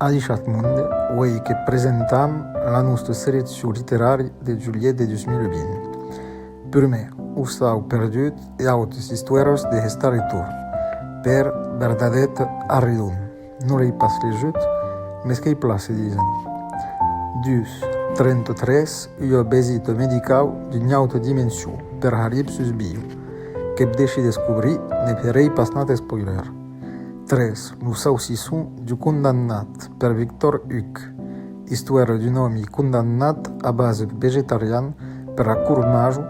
Alishat Monde, uèi que presentam la nòsta seleccion literària de julhet de 2020. Prumèr, Ossau perdut e autes istoires de Hestar e Torn, per Bernadette Arridon. Non l'ei pas legit, mès qu'ei plan se disen. Dus, trenta-tres, ua besita medicau d'una auta dimension per Harib sus Bio, qu'ep deshi descobrir, ne ferei pas nat spoiler. Tres, lo saucisson du condamnat per Victor Huc, istoèra d'un òmi condamnat a base vegetarian per la Cour Majo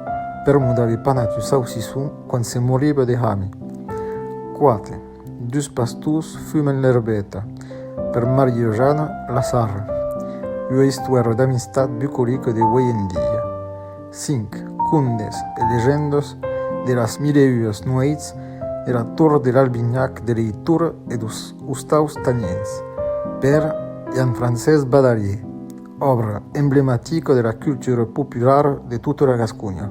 per modar de panat un saucisson quand se moriba de hami. Quate, Dus pastors fumen l'erbeta. Per Maria-Jana Lassarre, ua istuèra d'amistat bucolica de uèi en dia. Cinc condes e legendas de las mile e uas nuèits de la Tor de l'Albinhac de l'eitura e dos ostaus tanièns, per Jean-Francés Badalier, òbra emblematica de la cultura populara de tota la Gasconha.